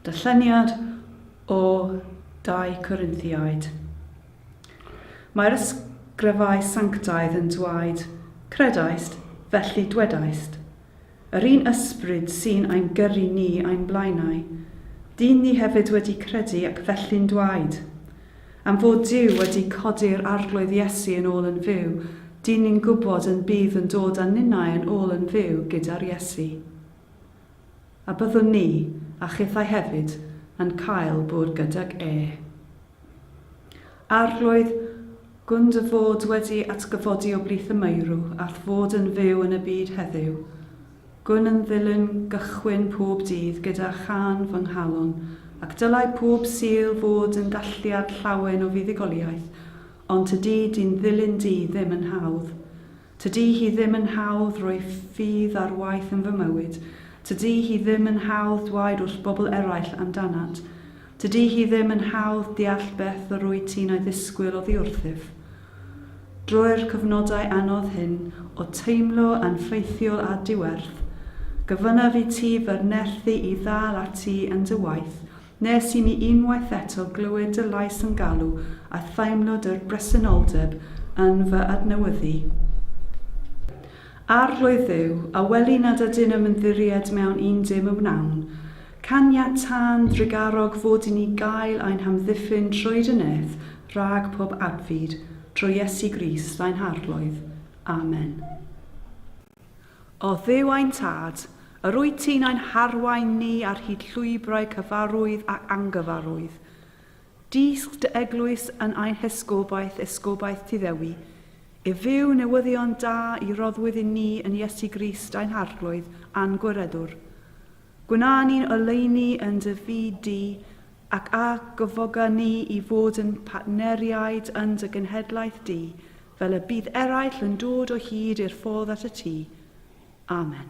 Darlleniad o 2 Corinthiaid. Mae'r ysgrifau sanctaidd yn dweud, Credaist, felly dwedaist. Yr un ysbryd sy'n ein gyrru ni ein blaenau, dyn ni hefyd wedi credu ac felly'n dweud. Am fod Duw wedi codi'r Arglwydd Iesu yn ôl yn fyw, dyn ni'n gwybod yn bydd yn dod â ninnau yn ôl yn fyw gyda'r Iesu. A byddwn ni, a chithau hefyd, yn cael bwrw gydag e. Arglwydd, gwn dy fod wedi atgyfodi o blith y meirw, a'th fod yn fyw yn y byd heddiw. Gwn yn ddilyn gychwyn pob dydd gyda chân fy nghalon, ac dylai pob Sul fod yn dathliad llawen o fuddugoliaeth, ond tydi dy'n ddilyn di ddim yn hawdd. Tydi hi ddim yn hawdd rhoi ffydd ar waith yn fy mywyd, tydi hi ddim yn hawdd dwaed wrth bobl eraill amdanat, tydi hi ddim yn hawdd deall beth yr wyt ti'n ei ddisgwyl oddi wrthyf. Drwy'r cyfnodau anodd hyn o teimlo yn ffeithiol a diwerth, gofynnaf i ti fy nerthu i ddal ati yn dy waith, nes i mi unwaith eto glywed dy lais yn galw a theimlo dy bresenoldeb yn fy adnewyddu. Arglwydd Dduw, a weli nad ydyn ymddirried mewn un dim y wnawn, Caniatá'n drugarog fod i ni gael ein hamddiffyn trwy dy nêth rhag pob adfyd, drwy Iesu Grist ain Harglwydd. Amen. O Dduw ein Tad, yr wyt ti'n ein harwain ni ar hyd llwybrau cyfarwydd ac angyfarwydd. Dysg dy eglwys yn ein hesgobaeth, esgobaeth ti ddewi, i fyw newyddion da i roddwyd i ni yn Iesu Grist ain Harglwydd a'n Gwireddwr. Gwna ni'n oleuni yn dy fyd di, ac a gyfoga ni i fod yn partneriaid yn dy genhedlaeth di, fel y bydd eraill yn dod o hyd i'r ffordd at y tŷ. Amen.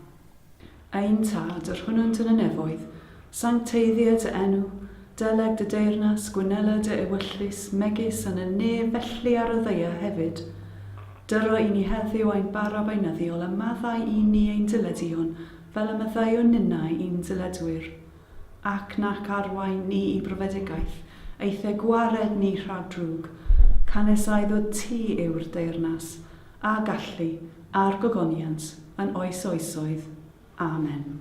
Ein Tad, yr hwnnwnt yn y nefoedd, sancteiddia dy enw, deleg dy deyrnas, gwynela dy ewyllys, megis yn y nef felly ar y ddaear hefyd. Dyro i ni heddiw ein bara beinyddiol, a maddau i ni ein dileduon, fel y maddeuwn ninnau i'n dyledwyr, ac nac arwain ni i brofedigaeth, eithr gwared ni rhag drwg, canesaidd o ti yw'r deyrnas, a gallu, a'r gogoniant, yn oes oesoedd. Amen.